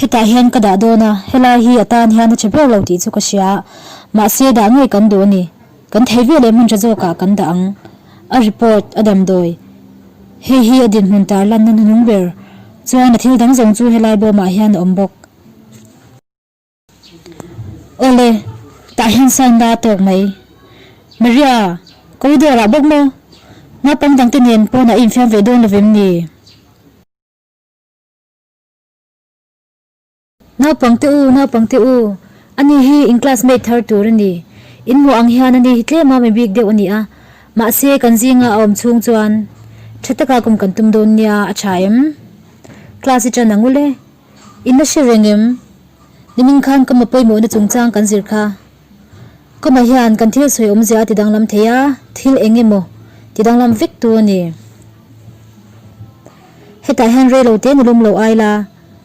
Hetah hian ka dah dawn a, helai hi a tan hian a che ber lo tih chu ka hria a, mahse dah ngei kan duh a ni, kan theih ve leh hmunṭha zawkah kan dah ang. A report a damdawi. Hei hi a dinhmun tarlanna nunung ber chuan a thil dang zawng chu helai bawmah hian a awm bawk. Awle, tah hian sign la a tawk mai. Maria, Ko dawrah bawk maw? Naupang dangte nen pawnah i infiam ve dawn lovem ni? Naupang te u, naupang te u, ani hi in classmate thar tur a ni. In hmuh ang hian ani hi tlema mi bik deuh a ni a. Mahse, kan zinga a awm chhung chuan tha taka kum kan tum dawn nia a tha em? Class-i tan ang ule. I na hre reng em? Nimin khan ka ma pawimawhna chungchang kan zir kha. Ka ma hian kan thil sawi awmzia a ti danglam thei a, thil eng emaw ti danglam vek tu a ni. Hetah hian rei lo te nilawm lo ai la,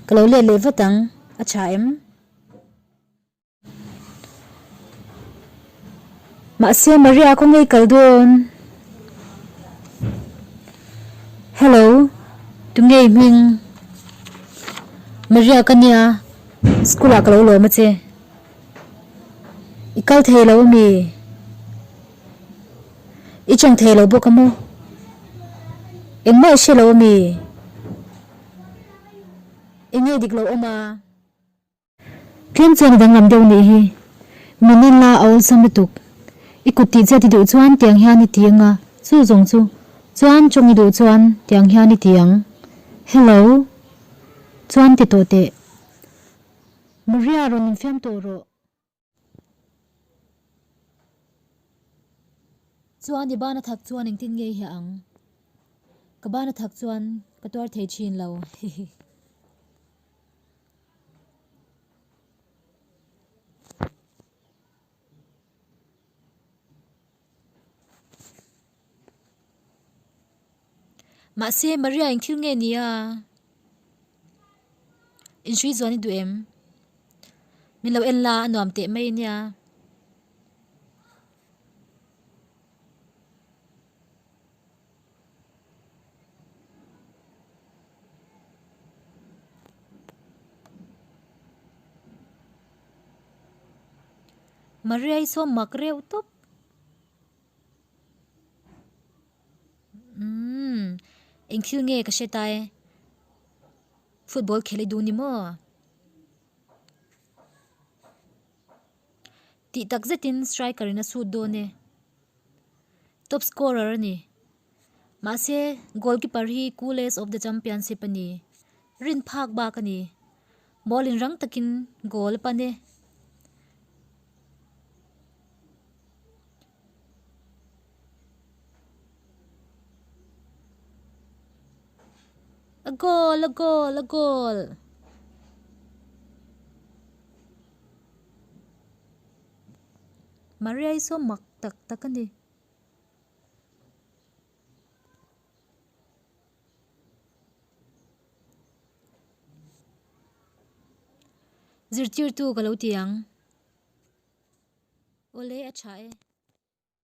ka lo let leh vat ang, a tha em? Mahse Maria khaw ngei kal dawn. Hello, tu ngei hming? Maria ka nia, school ah ka lo lawm a che. I kal thei lo a mi? I chawng thei lo bawk a maw? Engmah i hre lo a mi? I ngei dik lo awm a? Tlem chuan a danglam deuh nih hi, min in la a awlsam lutuk. I kut tih chiat i duh chuan tiang hian i ti ang a, chu zawng chu. Chuan tawng i duh chuan tiang hian i ti ang. Hello. Chuan ti tawh teh. Maria rawn infiam tawh rawh. Chuan i bana thak chuan engtin nge i hah ang? Ka bana thak chuan ka tuar thei thin lo hihi. Mahse, Maria-in thil nge ni a? In hrui zuan i duh em? Min lo en la a nuam teh mai nia. Maria hi saw mak reuh tawp. Umm, eng thil nge ka hre ta e? Football khelh i duh ni maw? Tih takzet in striker in a shoot dawn e. Top scorer a ni. Mahse, goalkeeper hi coolest of the championship a ni. Rin phak bak a ni. Ball in rang takin goal a pan e. A goal, a goal, a goal. Maria-i saw mak tak tak a ni. Zirtirtu ka lo ti ang. Awle a tha e.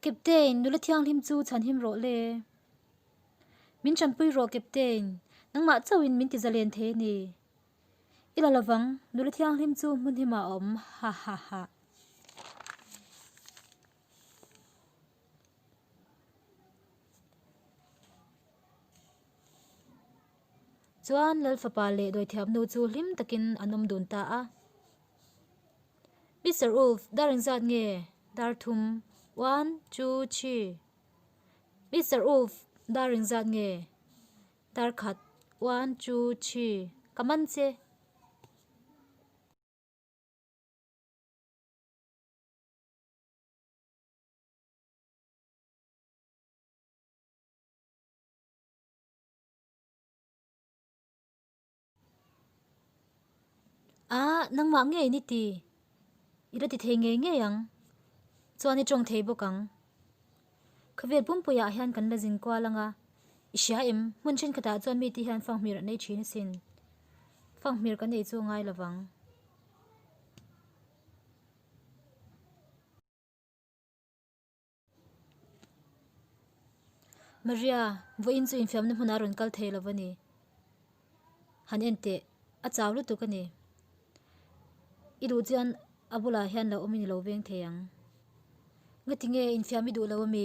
Captain, Nula thianghlim chu chhanhim rawh le. Min chanpui rawh Captain, nangmah chauhin min ti zalen thei a ni. I la lovang, nula thianghlim chu hmunhim a awm, hahaha. Chuan Lalfapa leh Dawithiamnu chu hlim takin an awm dun ta a. Mister Ulf, dar in zat nge dar thum? One, two, three. Mister Ulf, dar in zat nge dar khat? One, two, three. Ka man che. Aa, nangmah nge i ni ti? I reti thei ngei ngei ang. Chuan i tawng thei bawk ang. Khavel pumpuiah hian kan la zin kual anga, i hria em? Hmun thenkhatah chuan mite hian fanghmir an ei thin asin. Fanghmir kan ei chu a ngai lovang. Maria, vawiin chu infiamna hmunah a rawn kal thei lo va ni. Han en teh, a chau lutuk a ni. I duh chuan a bulah hian lo awm i ni lo veng thei ang. Ngatinge infiam i duh lo a mi?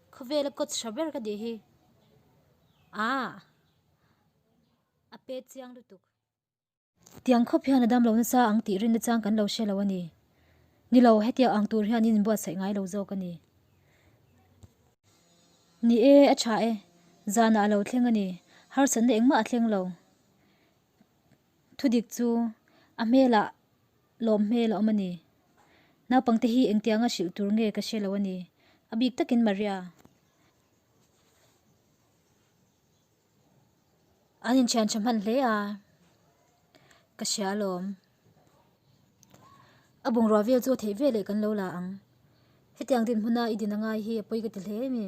Khawvel a kawt hra ber ka tih hi. Aah! A pe chiang lutuk. Tiang khawp hian a dam lo nasa ang tih rinna chang kan lo hre lo a ni. Ni lo, hetia ang tur hian in buatsaih ngai lo zawk a ni. Ni e, a tha e. Zanah a lo thleng a ni. Harsatna engmah a thleng lo. Thudik chu a hmelah lawm hmel a awm a ni. Naupang te hi engtiang a hrilh tur nge ka hre lo a ni. A bik takin Maria an inthiantha hman hle a, ka hria a lawm. A bungrua vel chu a theih veleh kan lo la ang. Hetiang dinhmuna i din a ngai hi a pawi ka ti hle em i?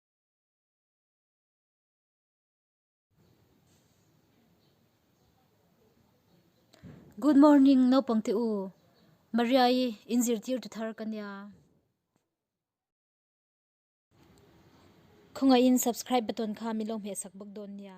Good morning naupang te u Maria i in zirtir tu thar ka nia. Khawngaihin subscribe button kha min lo hmeh sak bawk dawn nia.